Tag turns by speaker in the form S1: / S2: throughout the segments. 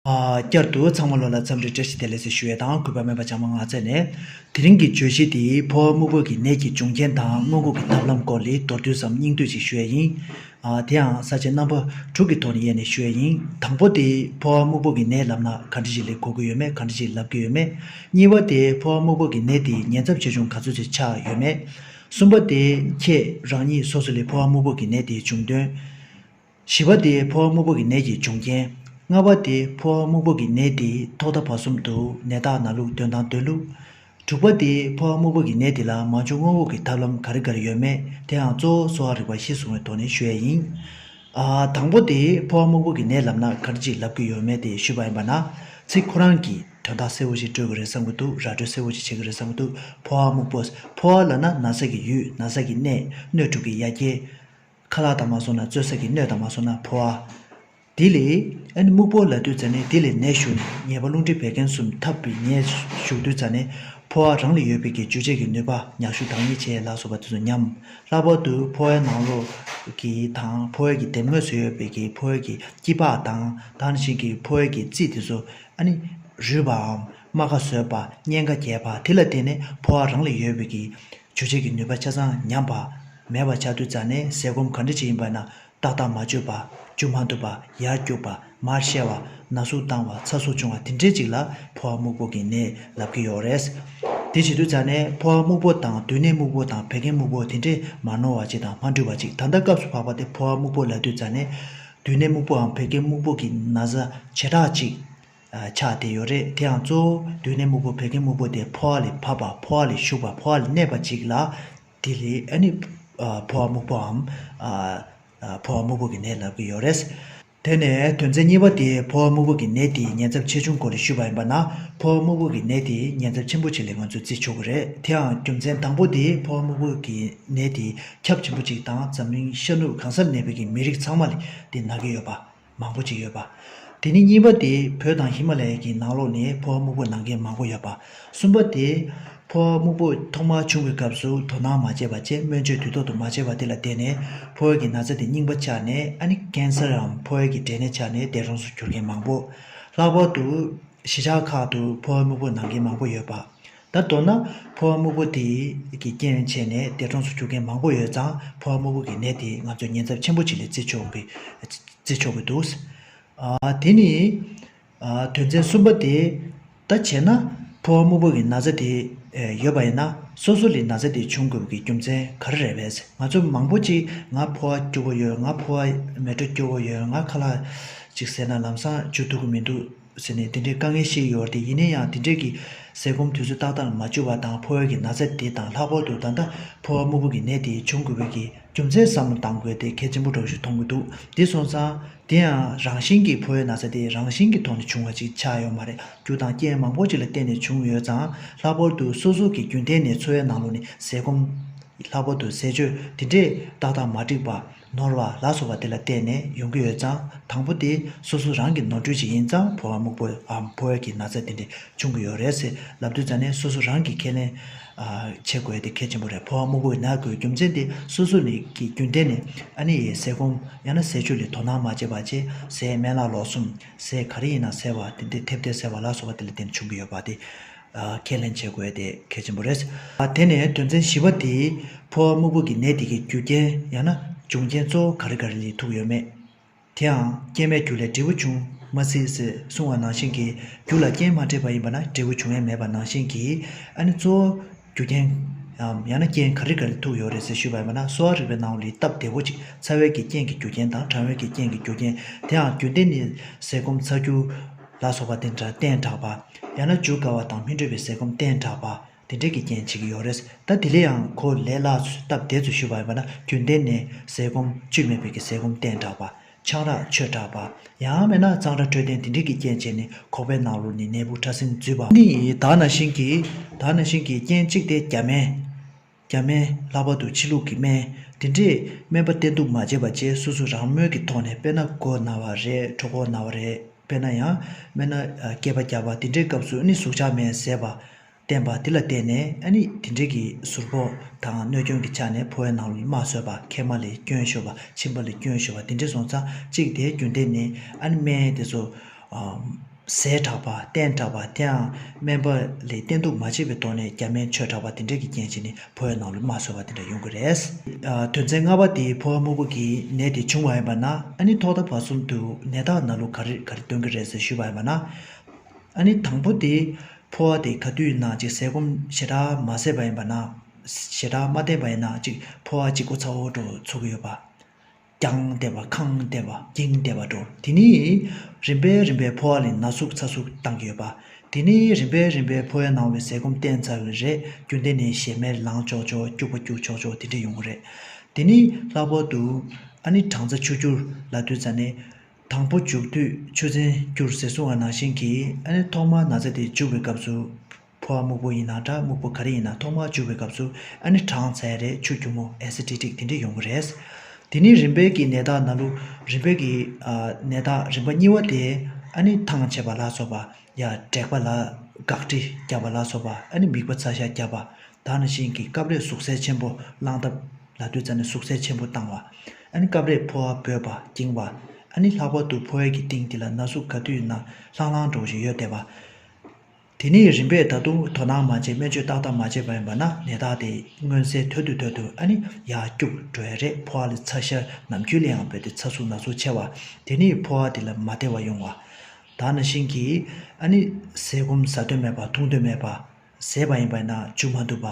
S1: བསྐྱར་དུ་ཚང་མ་བློ་ལ་བརྩམས་རེ་བཀྲ་ཤིས་བདེ་ལེགས་སུ་ཞུ་བའི་དང་གུས་པ་སྨོན་པ་ཅང་མ་མངའ་བརྩེ་ནས། དེ་རིང་གི་བརྗོད་གཞི་འདི་ཕོ་བ་སྨུག་པོ་གི་ནད་ཀྱི་འབྱུང་རྐྱེན་དང་སྔོན་འགོག་གི་ཐབས་ལམ་སྐོར་ལས་མདོར་བསྡུས་སམ་སྙིང་བསྡུས་ཅིག་ཞུ་ཡ་ཡིན། དེ་ཡང་ས་བཅད་རྣམ་པ་དྲུག་གི་ཐོག་ནས་དབྱེ་ནས་ཞུ་ཡ་ཡིན། དང་པོ་དེ་ཕོ་བ་སྨུག་པོ་གི་ནད་ལབ་ན་ག་འདྲི་ཞིག་ལས་གོ་གི་ཡོད་མེད་ག་འདྲི་ཞིག་ལབ་གི་ཡོད་མེད། གཉིས་བ་དེ་ཕོ་བ་སྨུག་པོ་གི་ནད་དེའི་ཉེན་ཚབས་ཆེ་ཆུང་ག་ཚོད་ཅིག་ཆགས་ཡོད་མེད། གསུམ་པ་དེ་ཁྱེད་རང་ཉིད་སོ་སོ་ལས་ཕོ་བ་སྨུག་པོ་གི་ནད་དེའི་འབྱུང་དོན། བཞི་བ་སྟེ་ཕོ་བ་སྨུག་པོ་གི་ནད་ཀྱི་འབྱུང་རྐྱེན། ལྔ་བ་སྟེ་ཕོ་བ་སྨུག་པོ་གི་ནད་དེའི་ཐོག་མཐའ་བར་གསུམ་དུ་ནད་རྟགས་ན་ལུགས་སྟོན་སྟངས་སྟོན་ལུགས། དྲུག་པ་སྟེ་ཕོ་བ་སྨུག་པོ་གི་ནད་དེ་ལ་མ་འབྱུང་སྔོན་དབུགས་ཀྱི་ཐབས་ལམ་ག་རེ་ག་རེ་ཡོད་མེད་དེའང་གཙོ་བོ་གསོ་བ་རིག་པ་གཞིར་བཟུང་བའི་ཐོག་ནས་ཞུ་ཡས་ཡིན། དང་པོ་སྟེ་ཕོ་བ་སྨུག་པོ་གི་ནད་ལབ་ན་ག་རེ་ཅིག་ལབ་ཀྱི་ཡོད་མེད་དེ་ཞུས་པ་ཡིན་པ་ན་ཚིག་ཁོ་རང་གིས་དོན་དག་གསལ་བོ་ཞིག་སྤྲོད་དགོས་རེད་བསམ་གྱི་འདུག་ར་སྤྲོད་གསལ་བོ་ཅིག་བྱེད་ཀྱི་རེད་བསམ་གྱི་འདུག་ཕོ་བ་སྨུག་པོ། ཕོ་བ་ལ་ན་ན་ཟེགས་ཀྱི་ཡུལ་ན་ཟེགས་ཀྱི་གནས་སྣོད་དྲུག་གི་ཡ་གྱལ། ཁ་ལག་དང་མ་སོ་ན་བཙོས་ས་ཀྱི་སྣོད་དང་མ་སོ་ན་ཕོ་བ། དེ་ལས་ཨཱ་ནི་སྨུག་པོ་ལ་དུད་ཙྪ་ནས་དེ་ལས་ནད་ཞུགས་ནས་ཉེས་པ་རླུང་མཁྲིས་བད་ཀན་གསུམ་འཐབ་པའི་ཉེས་ཞུགས་དུད་ཙྪ་ནས་ཕོ་བ་རང་ལ་ཡོད་པའི་ཀྱི་འཇུ་བྱེད་ཀྱི་ནུས་པ་མྱག་ཤུ་དང་ཡེ་བྱེད་ལ་སོགས་པ་དེ་ཚོ་ཉམས། ལྷག་པར་དུ་ཕོ་བའི་ནང་ལོགས་ཀྱི་དང་ཕོ་བའི་ཀྱི་དེབ་ངོས་སུ་ཡོད་པའི་ཀྱི་ཕོ་བའི་ཀྱི་སྐྱི་པགས་དང་དང་ཞིང་ཀྱི་ཕོ་བའི་ཀྱི་རྩི་དེ་ཚོ་ཨཱ་ནི་རུལ་བའམ་རྨ་ཁ་བཟོས་པ་གཉན་ཁ་རྒྱས་པ་དེ་ལ་བརྟེན་ནས་ཕོ་བ་རང་ལ་ཡོད་པའི་ཀྱི། བརྗོད་བྱེད་ཀྱི་ནུས་པ་ཆ་ཚང་ཉམས་པ། མེད་པར་ཆགས་དུས་རྩ་ནས་ཟས་སྐོམ་གང་འདྲ་ཞིག་ཡིན་པ་ན་ཏག་ཏག་མ་བཅོས་པ། འཇུ་མ་ཐུབ་པ། ཡར་སྐྱུག་པ། མར་བཤལ་བ། ན་ཟུག་བཏང་བ་ཚ་ཟུག་བྱུང་བ་དེ་འདྲའི་ཅིག་ལ་ཕོ་བ་སྨུག་པོ་གྱི་ནད་ལབ་ཀྱི་ཡོད་རེད། དེ་བྱེད་དུས་རྩ་ནས་ཕོ་བ་སྨུག་པོ་དང་དུས་ནད་སྨུག་པོ་དང་བད་ཀན་སྨུག་པོ་དེ་འདྲས་མ་ནོར་བ་ཅིག་དང་མ་འཁྲུལ་བ་ཅིག་ད་ལྟ་སྐབས་སུ་བབ་པ་དེ་ཕོ་བ་སྨུག་པོ་ལ་དུས་རྩ་ནས་དུས་ནད་སྨུག་པོའམ་བད་ཀན་སྨུག་པོ་གྱི་ན་བཟའ་བྱེ་བྲག་ཅིག་ཆ་དེ་ཡོད་རེད་དེའང་གཙོ་བོ་དུས་ནས་སྨུག་པོ་བད་ཀན་སྨུག་པོ་དེ་ཕོ་བ་ལས་བབས་པ་ཕོ་བ་ལས་ཞུགས་པ་ཕོ་བ་ལས་གནས་པ་གཅིག་ལ། དེ་ལས་ཨ་ནི་ཕོ་བ་སྨུག་པོའམ། ཕོ་བ་སྨུག་པོ་གི་ནད་ལབ་ཀྱི་ཡོད་རེད། དེ་ནས་དོན་ཚན་གཉིས་པ་དེ་ཕོ་བ་སྨུག་པོ་གི་ནད་དེའི་ཉེན་ཚབས་ཆེ་ཆུང་སྐོར་ལས་ཞུས་པ་ཡིན་པ་ན་ཕོ་བ་སྨུག་པོ་གི་ནད་དེའི་ཉེན་ཚབས་ཆེན་པོ་ཅིག་ལས་ང་ཚོས་བརྩི་ཆོག་གི་རེད་དེའང་རྒྱུ་མཚན་དང་པོ་དེ་ཕོ་བ་སྨུག་པོ་གི་ནད་དེའི་ཁྱབ་ཆེན་པོ་གཅིག་དང་འཛམ་གླིང་ཤར་ནུབ་གང་སར་གནས་པའི་གི་མི་རིགས་ཚང་མ་ལས་དེ་ན་གི་ཡོད་པ། མང་པོ་ཅིག་ཡོད་པ། དེ་ནི་གཉིས་པ་དེ་བོད་དང་ཧི་མ་ལ་ཡའི་གྱི་ནང་ལོགས་ནས་ཕོ་བ་སྨུག་པོ་ནང་མཁན་མང་པོ་ཡོད་པ། གསུམ་པ་དེ། ཕོ་བ་སྨུག་པོ་ཐོག་མར་བྱུང་བའི་སྐབས་སུ་དོ་སྣང་མ་བྱས་པ་བཅས་སྨོན་བཅོས་དུས་ཐོག་ཏུ་མ་བྱས་པ་དེ་ལ་བརྟེན་ནས་ཕོ་བའི་གྱི་ན་ཚ་དེ་རྙིང་པ་ཆགས་ནས་ཨ་ནི་ཀན་སར་འམ་ཕོ་བའི་གྱི་འབྲས་ནད་ཆགས་ནས་འདས་གྲོངས་སུ་གྱུར་མཁན་མང་པོ། ལྷག་པར་དུ། གཞིས་ཆགས་ཁག་ཏུ་ཕོ་བ་སྨུག་པོ་ནང་མཁན་མང་པོ་ཡོད་པ། ད་མདོར་ན་ཕོ་བ་སྨུག་པོ་དེ་གི་རྐྱེན་བྱས་ནས་འདས་གྲོངས་སུ་གྱུར་མཁན་མང་པོ་ཡོད་ཙང་ཕོ་བ་སྨུག་པོ་གི་ནད་དེས་ང་ཚོས་ཉེན་ཚབས་ཆེན་པོ་ཞིག་ལས་བརྩི་ཆོག་གི་བརྩི་ཆོག་གི་འདུག་དེ་ནི། དོན་ཚན་གསུམ་པ་དེ་ད་བྱས་ན་ཕོ་བ་སྨུག་པོ་གི་ན་ཚ་དེ་ཡོད་པ་ཡིན་ན་སོ་སོ་ལས་ན་ཚ་དེ་བྱུང་དགོས་པའི་རྒྱུ་མཚན་ག་རེ་རེད་བས་ང་ཚོ་མང་པོ་ཅིག་ང་ཕོ་བ་སྐྱུར་པོ་ཡོད་ང་ཕོ་བ་མེ་དྲོད་སྐྱུར་པོ་ཡོད་ང་ཁ་ལག་ཅིག་ཟེར་ན་ལམ་སང་འཇུ་ཐུབ་ཀྱི་མི་འདུག། ཟེར་ནས་དེ་འདྲའི་དཀའ་ངལ་ཞིག་ཡོད་དེ་ཡིན་ན་ཡང་དེ་འདྲས་ཀྱིས་ཟས་སྐོམ་དུས་ཚོད་ཏག་ཏག་ལ་མ་བཅོལ་བ་དང་ཕོ་བའི་གི་ན་ཚ་དེ་དང་ལྷག་པར་དུ་ད་ལྟ་ཕོ་བ་སྨུག་པོ་གི་ནད་དེ་འབྱུང་དགོས་པའི་གི་རྒྱུ་མཚན་བསམ་བློ་བཏང་དགོས་དེ་གལ་ཆེན་པོ་གྲོགས་ཤིག་མཐོང་གི་འདུག་དེ་སོང་ཙང་དེ་ཡང་རང་བཞིན་གྱིས་ཕོ་བའི་ན་ཚ་དེ་རང་བཞིན་གྱི་ཐོག་ནས་བྱུང་བ་ཅིག་ཆགས་ཡོད་མ་རེད་རྒྱུ་དང་རྐྱེན་མང་པོ་ཅིག་ལ་བརྟེན་ནས་བྱུང་ཡོད་ཙང་ལྷག་པར་དུ་སོ་སོ་གི་རྒྱུན་གཏན་ནས་འཚོ་བའི་ནང་ལོ་ནས་ཟས་སྐོམ། ལྷག་པར་དུ་ཟས་སྤྱོད་དེ་འདྲས་ཏག་ཏག་མ་འགྲིག་པ། ནོར་བ་ལ་སོགས་པ་དེ་ལ་བརྟེན་ནས་ཡོང་གི་ཡོད་ཙང་དང་པོ་དེ་སོ་སོ་རང་གི་ནོར་འཁྲུལ་ཅིག་ཡིན་ཙང་ཕོ་བ་སྨུག་པོའམ་ཕོ་བའི་གྱི་ན་ཚ་དེ་འདྲས་བྱུང་གི་ཡོད་རེད་ཟེར་ལབ་དུས་ཙང་ནས་སོ་སོ་རང་གིས་ཁས་ལེན་བྱེད་དགོས་དེ་གལ་ཆེན་པོ་རེད་ཕོ་བ་སྨུག་པོའི་ན་གོའི་རྒྱུ་མཚན་དེ་སོ་སོ་ནས་ཀྱི་རྒྱུན་གཏན་ནས་ཨ་ནེ་ཡིས་ཟས་སྐོམ་ཡང་ན་ཟས་བཅུད་ལས་དོ་སྣང་མ་བྱས་པ་བཅས་ཟས་སྨན་ལ་ལོག་གསུམ་ཟས་ག་རེ་ཡིན་ན་ཟས་བ་དེ་འདྲས་ཐེབས་ཐེབས་ཟེར་བ་ལ་སོགས་པ་དེ་ལ་བརྟེན་ནས་བྱུང་གི་ཡོད་པ་དེ། ཁས་ལེན་བྱེད་དགོས་དེ་གལ་ཆེན་པོ་རེད། དེ་ནས་དོན་ཚན་བཞི་བ་དེའི་ཕོ་བ་སྨུག་པོ་གི་ནད་དེ་གའི་རྒྱུ་རྐྱེན་ཡང་ན་འབྱུང་རྐྱེན་གཙོ་བོ་ག་རེ་ག་རེ་ལས་ཐུག་ཡོད་མེད། དེའང་རྐྱེན་མའི་རྒྱུ་ལས་འབྲས་བུ་འབྱུང་མ་སྲིད་ཟེར་གསུང་བ་ནང་བཞིན་གྱི་རྒྱུ་ལ་རྐྱེན་མ་འདྲེས་པ་ཡིན་པ་ན་འབྲས་བུ་འབྱུང་ཡས་མེད་པ་ནང་བཞིན་གྱི་ཨ་ནི་གཙོ་བོ་རྒྱུ་རྐྱེན་ངམ་ཡང་ན་རྐྱེན་ག་རེ་ག་རེ་ཐུག་ཡོད་རེད་ཟེར་ཞུས་པ་ཡིན་པ་ན་གསོ་བ་རིག་པའི་ནང་ལུས་སྟབས་བདེ་བོ་ཅིག་ཚ་བའི་གི་རྐྱེན་གྱི་རྒྱུ་རྐྱེན་དང་གྲང་བའི་གི་རྐྱེན་གྱི་རྒྱུ་རྐྱེན་དེའང་རྒྱུན་ལྡན་ནི་ཟས་སྐོམ་ཚ་རྒྱུ། ལ་སོགས་པ་དེ་འདྲ་གཏན་དྲགས་པ། ཡང་ན་འཇུག་དཀའ་བ་དང་སྨིན་གྲོལ་བའི་ཟས་སྐོམ་གཏན་དྲགས་པ། དེ་འདྲས་ཀྱི་རྐྱེན་བྱེད་ཀྱི་ཡོད་རེད། ད་དེ་ལས་ཡང་གོ་ལེ་ལགས་ཚོས་སྟབས་བདེ་ཚོ་ཞུ་བ་ཡིན་པ་ན་རྒྱུན་གཏན་ནས་ཟས་སྐོམ་བཅུད་མེད་པའི་གི་ཟས་སྐོམ་གཏན་དྲགས་པ། ཆང་རག་ཆོས་དྲགས་པ། ཡང་མེད་ན་གཙང་སྦྲ་འཕྲོད་བསྟེན་དེ་འདྲས་ཀྱི་རྐྱེན་བྱས་ནས་ཁོག་པའི་ནང་ལོགས་ནས་ནད་འབུ་ཕྲ་སྲིན་འཛུལ་བ། ནི་དག་ན་ཤིང་གི་དག་ན་ཤིང་གི་རྐྱེན་གཅིག་སྟེ་རྒྱ་མའི། རྒྱ་སྨན། ལྷག་པར་དུ་ཕྱི་ལུགས་ཀྱི་སྨན། འདི་འདྲས་སྨན་པ་བསྟེན་དུ་མ་བཅད་པ་བཅས་སོ་སོ་རང་མོས་ཀྱི་ཐོག་ནས་དཔེར་ན་མགོ་ན་བ་རེད་གྲོ་གོག་ན་བ་རེད་དཔེར་ན་ཡང་སྨན་ན་སྐྱེས་པ་བརྒྱབ་པ་འདི་འདྲའི་སྐབས་སུ་ནི་ཟུག་ཆག་མེད་ཟེར་བ། བསྟེན་པ་འདི་ལ་བརྟེན་ནས་ཨ་ནི་འདི་འདྲས་ཀྱི་ཟུར་ཕོག་དང་གནོད་སྐྱོན་གྱི་ཆ་ནས་ཕོ་བའི་ནང་ལོ་ནི་མ་བཟོད་པ་མཁལ་མ་ལས་སྐྱོན་ཤོར་བ་མཆིན་པ་ལས་སྐྱོན་ཤོར་བ་འདི་འདྲས་སོང་ཙང་གཅིག་དེའི་རྒྱུན་ལྡན་ནི་ཨ་ནི་སྨན་དེ་ཚོ། ཟས་གྲགས་པ་སྟན་གྲགས་པ་དེའང་སྨན་པ་ལས་བསྟེན་གཏུགས་མ་བྱས་པའི་ཐོག་ནས་རྒྱ་སྨན་ཆོས་གྲགས་པ་དེ་འདྲས་ཀྱི་རྐྱེན་གྱིས་ནི་ཕོ་བའི་ནང་ལུས་མ་གསོས་པ་དེ་འདྲ་ཡོང་གི་རེད། དོན་ཚན་ལྔ་པ་དེའི་ཕོ་བ་སྨུག་པོ་གི་ནད་དེ་བྱུང་བ་ཡིན་པ་ན་ཨ་ནི་ཐོག་མཐའ་བར་གསུམ་དུ་ནད་རྟགས་ན་ལུགས་ག་རེ་ག་རེ་སྟོན་གི་རེད་ཟེར་ཞུས་པ་ཡིན་པ་ན། ཨ་ནི་དང་པོ་དེ་ཕོ་བ་དེ་ག་དུས་ཡིན་ན་ཅིག་ཟས་སྐོམ་ཞེ་དྲག་མ་བཟས་པ་ཡིན་པ་ན། ཞེ་དྲག་མ་བསྟེན་པ་ཡིན་ན་ཅིག་ཕོ་བ་ཅིག་སྒོ་ཚ་བོ་འགྲོ་ཚུགས་ཀྱི་ཡོད་པ། རྒྱང་བལྟས་པ་གང་བལྟས་པ་འགྱིང་བལྟས་པ་འགྲོ་དེ་ནི་རིམ་པས་རིམ་པས་ཕོ་བ་ལས་ན་ཟུག་ཚ་ཟུག་བཏང་གི་ཡོད་པ་དེ་ནི་རིམ་པས་རིམ་པས་ཕོ་བའི་ནང་བའི་ཟས་སྐོམ་བསྟེན་ཚར་བའི་རེས་རྒྱུ་འདི་ནས་ཞེ་མེར་ལངས་ཆོག་ཆོག་སྐྱུག་པ་སྐྱུག་ཆོག་ཆོག་དེ་འདྲས་ཡོང་གི་རེད་དེ་ནི་ལྷག་པར་དུ་ཨ་ནི་གྲང་ཚ་ཆུ་སྐྱུར་ལ་ལྟོས་ཚ་ནས་དང་པོ་འཇུག་དུས་ཆུ་ཚན་སྐྱུར་ཟེར་གསུང་བ་ནང་བཞིན་གྱིས་ཨ་ནི་ཐོག་མར་ན་ཚ་དེ་འཇུག་པའི་སྐབས་སུ། ཕོ་བ་སྨུག་པོ་ཡིན་ན་འདྲ་སྨུག་པོ་ག་རེ་ཡིན་ན་ཐོག་མར་བྱུག་པའི་སྐབས་སུ་ཨ་ནི་གྲང་ཚད་རེད་ཆུ་རྒྱུ་མོ Aciditic དེ་འདྲས་ཡོང་གི་རེད། དེ་ནི་རིམ་པས་ཀྱི་ནད་རྟགས་ན་ལུ་རིམ་པས་ཀྱི་ནད་རྟགས་རིམ་པ་གཉིས་བ་དེ་ཨ་ནི་ཐང་ཆད་པ་ལ་སོགས་པ་ཡ་དྲེག་པ་ལ་དགག་དྲི་རྒྱབ་པ་ལ་སོགས་པ་ཨ་ནི་མིག་པ་ཚ་ཤ་རྒྱབ་པ་དག་ནི་བཞིན་གྱི་སྐབས་རེ་ཟུག་ཟད་ཆེན་པོ་བླང་ཐབས་ལ་དུས་ཙ་ནི་ཟུག་ཟད་ཆེན་པོ་བཏང་བ་ཨ་ནི་སྐབས་རེ་ཕོ་བ་འབོད་པ་འགྱིང་བ་ཨ་ནི་ལྷག་པར་དུ་ཕོ་བའི་གྱི་སྟེང་དེ་ལ་ན་ཟུག་ག་དུས་ན་ལྷང་ལྷང་འགྲོ་བཞིན་ཡོད་བསྡད་པ། དེ་ནི་རིམ་པས་ད་དུང་དོ་སྣང་མ་བྱས་སྨན་བཅོས་ཏག་ཏག་མ་བྱས་པ་ཡིན་པ་ན་ནད་རྟགས་དེ་མངོན་གསལ་དོད་དུ་དོད་དུ་ཨ་ནི་ཡར་སྐྱུག་བྲོ་ཡ་རེད་ཕོ་བ་ལ་ཚ་ཤར་ནམ་རྒྱུན་ལའང་བོད་དེ་ཚ་ཟུག་ན་ཟུག་ཆེ་བ་དེ་ནི་ཕོ་བ་དེ་ལ་མ་བདེ་བ་ཡོང་བ། ད་ན་ཤིང་གིས་ཨ་ནི་ཟས་སྐོམ་ཟ་འདོད་མེད་པ་འཐུང་འདོད་མེད་པ་ཟས་པ་ཡིན་པ་ན་བཅུག་མ་འདུག་པ།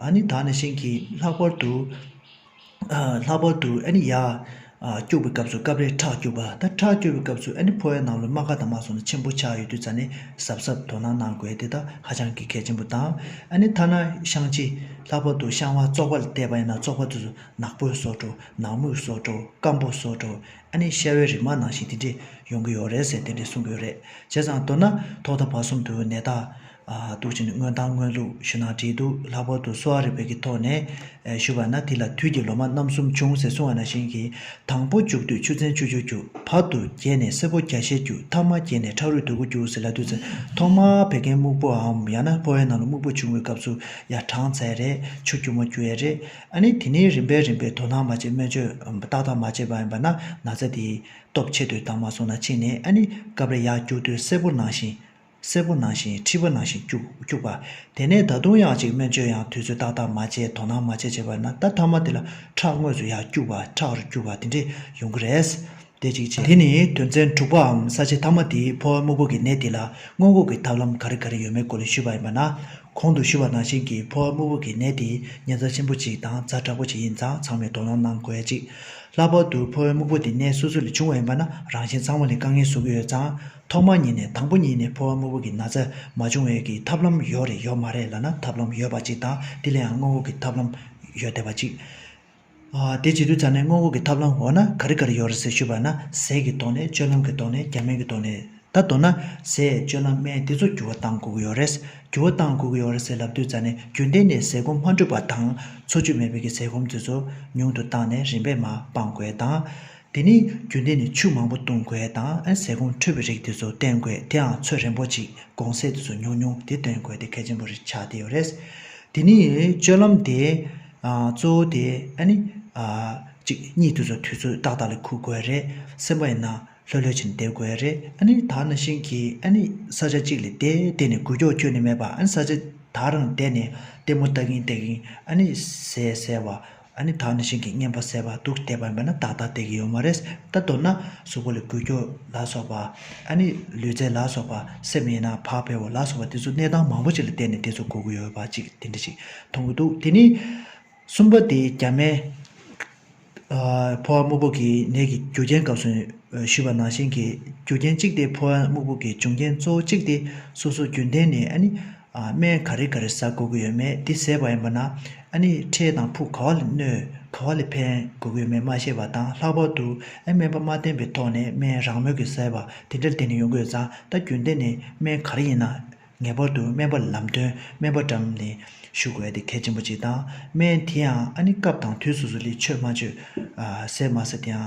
S1: ཨཱ་ནི་དག་ནས་བྱིན་གྱིས་ལྷག་པར་དུ། ལྷག་པར་དུ་ཨཱ་ནི་ཡར། སྐྱུགས་པའི་སྐབས་སུ་སྐབས་རེ་ཁྲག་སྐྱུགས་པ་དང་ཁྲག་སྐྱུགས་པའི་སྐབས་སུ་ཨཱ་ནི་ཕོ་བའི་ནང་ལོ་རྨ་ཁ་དང་མ་སོགས་ནས་ཆེན་པོ་ཆགས་ཡོད་དུས་རྩ་ནི་ཟབ་ཟབ་དོ་སྣང་གནང་དགོས་དེ་དག་ཧ་ཅང་གི་གལ་ཆེན་པོ་དང། ཨཱ་ནི་ཐ་ན་བཤང་གཅི། ལྷག་པར་དུ་བཤང་བ་བཙོག་པ་ལ་བལྟས་པ་ཡིན་ན་བཙོག་པ་དེ་ཚོ་ནག་པོའི་སོགས་འགྲོ་ནག་མོའི་སོགས་འགྲོ་སྐམ་པོ་སོགས་འགྲོ་ཨཱ་ནི་ཤ་བའི་རིགས་མ་ནང་བཞིན་དེ་འདྲས་ཡོང་གི་ཡོད་རེད་ཟེར་དེ་འདྲས་གསུང་གི་ཡོད་རེད་བྱས་ཙང་མདོར་ན་ཐོག་མཐའ་བར་གསུམ་དུ་ནད་རྟགས་གཏུག་བྱས་ནས་དངོས་དང་དངོས་ལུགས་ཞུ་ན་བྲིས་འདུག་ལྷག་པར་དུ་གསོ་བ་རིག་པའི་གི་ཐོག་ནས་ཞུ་བ་ན་དེ་ལ་དུས་ཀྱི་ལོ་མ་རྣམ་གསུམ་བྱུང་ཟེར་གསུང་བ་ན་བཞིན་གྱི་དང་པོ་འཇུག་དུས་ཆུ་ཚན་བཅུ་བཅུ་རྒྱུག་བར་དུ་རྒྱས་ནས་སེར་པོ་བརྒྱ་ཤས་རྒྱུག་མཐའ་མ་རྒྱས་ནས་ཁྲག་རུས་དུད་ཁུ་རྒྱུག་ཟེར་ལ་དུས་ཚན་ཐོག་མར་བད་ཀན་སྨུག་པོའམ་ཡང་ན་ཕོ་བའི་ནང་ལ་སྨུག་པོ་བྱུང་བའི་སྐབས་སུ་ཡང་གྲངས་ཚད་རེ་ཆུ་རྒྱུག་མ་རྒྱུ་ཡས་རེད་ཨ་ནི་དེ་ནི་རིམ་པས་རིམ་པས་དོ་སྣང་མ་བྱས་སྨན་བཅོས་ཏག་ཏག་མ་བྱས་པ་ཡིན་པ་ན་ན་ཚ་དེའི་སྟོབས་ཆེ་དུས་དང་མ་སོང་ན་ཕྱིན་ནས་ཨ་ནི་སྐབས་རེ་ཡར་རྒྱུག་དུས་སེར་པོ་ནང་བཞིན། སེར་པོ་ནང་བཞིན་མཁྲིས་པ་ནང་བཞིན་སྐྱུགས་པ། དེ་ནས་ད་དུང་ཡང་ཅིག་སྨན་བཅོས་ཡང་དུས་ཚོད་ཏག་ཏག་མ་བྱས་དོ་སྣང་མ་བྱས་བྱས་པ་ན་ད་མཐའ་མ་དེ་ལ་ཁྲག་དངོས་སུ་ཡར་སྐྱུགས་པ་ཁྲག་རུས་སྐྱུགས་པ་དེ་འདྲས་ཡོང་གི་རེད། དེ་ཅིག་བྱས། དེ་ནི་དོན་ཚན་དྲུག་པའམ་ས་བྱི་མཐའ་མ་དེའི་ཕོ་བ་སྨུག་པོ་གི་ནད་དེ་ལ་སྔོན་འགོག་གི་ཐབས་ལམ་ག་རེ་ག་རེ་ཡོད་མེད་སྐོར་ལས་ཞུས་པ་ཡིན་པ་ན། གོང་དུ་ཞུས་པ་ནང་བཞིན་གྱི་ཕོ་བ་སྨུག་པོ་གི་ནད་དེ་ཉེན་རྩ་ཆེན་པོ་ཅིག་དང་རྩ་དྲག་པོ་ཅིག་ཡིན་ཙང་ཚང་མས་དོ་སྣང་གནང་དགོས་ཅིག། ལྷག་པར་དུ་ཕོ་བའི་སྨུག་པོ་དེ་ནད་སོ་སོ་ལས་བྱུང་བ་ཡིན་པ་ན་རང་བཞིན་ཚང་མ་ལས་དཀའ་ངལ་བཟོ་གི་ཡོད་ཙང། ཐོག་མ་ཉིད་ནས་དང་པོ་ཉིད་ནས་འཕོ་བ་དངོས་པོ་གྱི་ན་ཚ་མ་བྱུང་བས་ཀྱི་ཐབས་ལམ་ཡོད་རེད་ཡོད་མ་རེད་ལ་ན་ཐབས་ལམ་ཡོད་པ་ཅིག་དང་དེ་ལའང་དངོས་པོ་གྱི་ཐབས་ལམ་ཡོད་བསྡད་པ་ཅིག། དེ་ཇི་དུས་ཙམ་ནས་དངོས་པོ་གྱི་ཐབས་ལམ་འོ་ན་ག་རི་ག་རི་ཡོད་རེད་ཟེར་ཞུས་པ་ན་ཟས་ཀྱི་ཐོག་ནས་སྤྱོད་ལམ་གྱི་ཐོག་ནས་རྒྱ་སྨན་གྱི་ཐོག་ནས་ད་མདོར་ན་ཟས་སྤྱོད་ལམ་སྨན་དེ་ཚོ་འགྱུར་བ་བཏང་དགོས་ཀྱི་ཡོད་རེད་འགྱུར་བ་བཏང་དགོས་ཀྱི་ཡོད་རེད་ཟེར་ལབ་དུས་ཙམ་ནས་རྒྱུན་གཏན་ནས་ཟས་སྐོམ་མ་འདྲུད་པ་དང་འཚོ་བཅུད་མེད་པའི་ཀྱི་ཟས་སྐོམ་དེ་ཚོ་ཉུང་དུ་བཏང་ནས་རིམ་པས་མ་སྤང་དགོས་དང། དེ་ནི་རྒྱུན་ལྡན་ནས་ཆུ་མང་པོ་བཏུང་དགོས་དང་ཟས་སྐོམ་འཕྲོད་པའི་རིགས་དེ་ཚོ་བསྟེན་དགོས་དེའང་ཚོད་རན་པོ་ཅིག་དགོང་ཟས་དེ་ཚོ་ཉུང་ཉུང་དེ་བསྟེན་དགོས་དེ་གལ་ཆེན་པོ་རེད་ཆགས་བསྡད་ཡོད་རེད། དེ་ནི་སྤྱོད་ལམ་དེ་གཙོ་བོ་དེ་ནི་གཅིག་གཉིད་དེ་ཚོ་དུས་ཚོད་ཏག་ཏག་ལ་ཁུག་དགོས་རེད་སེམས་པ་ཡིན་ན་ལྷོད་ལྷོད་ཅིག་འདེབས་དགོས་རེད་ད་ནང་བཞིན་གྱི་ས་ཆ་གཅིག་ལས་དེ་བསྟེན་ནས་འགུལ་སྐྱོག་ཁྱོན་ནས་མེད་པ་ས་ཆ་དག་རང་བསྡད་ནས་ལྟད་མོ་ལྟ་གིན་ལྟ་གིན་ཟས་བཟས་པ། ཨ་ནི་ད་ནི་ཞིང་གི་གཉེན་པོ་ཟེར་བ་འདུག་བལྟས་པར་འབད་ན་ཏག་ཏག་བལྟས་ཀྱི་ཡོད་མ་རེད་ད་མདོར་ན་གཟུགས་པོ་ལས་འགུལ་སྐྱོད་ལ་སོགས་པ་ཨ་ནི་ལུས་རྩལ་ལ་སོགས་པ་སེམས་ཡིན་ན་བག་ཕེབས་བོ་ལ་སོགས་པ་དེ་ཚོ་གནས་སྟངས་མང་པོ་ཞིག་ལ་བལྟས་ནས་དེ་ཚོ་གོ་གི་ཡོད་པ་ཅིག་དེ་འདྲ་ཞིག་མཐོང་གི་འདུག་དེ་ནི་གསུམ་པ་དེ་རྒྱ་མའི་ཕོ་བ་སྨུག་པོ་གི་ནད་ཀྱི་རྒྱུ་རྐྱེན་སྐབས་སུ་ཞུས་པ་ནང་བཞིན་གྱི་རྒྱུ་རྐྱེན་གཅིག་དེ་ཕོ་བ་སྨུག་པོ་གི་འབྱུང་རྐྱེན་གཙོ་བོ་གཅིག་དེ་སོ་སོ་རྒྱུན་ལྡན་ནས་ཨ་ནི་སྨན་ག་རེ་ག་རེ་ཟ་གོ་གི་ཡོད་མེད་དེ་ཟེར་བ་ཡིན་པ་ན་ཨ་ནི་ཁྲེལ་དང་ཕུག་ག་བ་ལས་གནོད་ག་བ་ལས་ཕན་དགོས་དགོས་མེད་མ་ཤེས་པ་དང་ལྷག་པར་དུ་ཨ་སྨན་པ་མ་བསྟེན་པའི་ཐོག་ནས་སྨན་རང་མོས་ཀྱི་ཟེར་བ་དེ་འདྲ་བསྟེན་ནས་ཡོང་དགོས་ཙང་ད་རྒྱུན་ལྡན་ནས་སྨན་ག་རེ་ཡིན་ན་ངེས་པར་དུ་སྨན་པ་ལ་ལམ་སྟོན་སྨན་པ་འགྲམ་ནས་ཞུ་དགོས་དེ་གལ་ཆེན་པོ་གཅིག་དང་སྨན་དེའང་ཨ་ནི་སྐབས་དང་དུས་སོ་སོ་ལས་ཆོད་མ་ཆོད་ཟེར་མ་ཟེར་དེའང་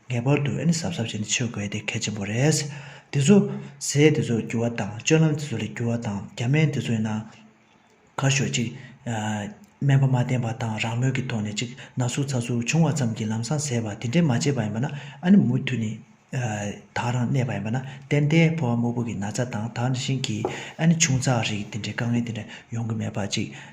S1: ངེས་པར་དུ་ཨེ་ནི་གཟབ་གཟབ་བྱས་ནས་འཆོས་དགོས་དེ་གལ་ཆེན་པོ་རེད། འདི་ཚོ། ཟས་འདི་ཚོ་བསྒྱུར་བ་དང་སྤྱོད་ལམ་འདི་ཚོ་ལས་བསྒྱུར་བ་དང་རྒྱ་སྨན་འདི་ཚོ་ཡིན་ན། གར་ཞོག་ཅིག། སྨན་པ་མ་བསྟེན་པ་དང་རང་མོས་ཀྱི་ཐོག་ནས་ཅིག་ན་ཟུག་ཚ་ཟུག་བྱུང་བ་ཙམ་གྱིས་ལམ་སང་ཟས་བ་དེ་འདྲས་མ་བྱས་པ་ཡིན་པ་ན་ཨ་ནི་མུ་མཐུད་ནས། དག་རང་གནས་པ་ཡིན་པ་ན་ཏན་ཏན་ཕོ་བ་སྨུག་པོ་གི་ན་ཚ་དང་དག་ནི་ཤིང་གིས་ཨ་ནི་ཆུང་ཚགས་རིགས་དེ་འདྲས་དཀའ་ངལ་དེ་འདྲས་ཡོང་གི་མེད་པ་ཅིག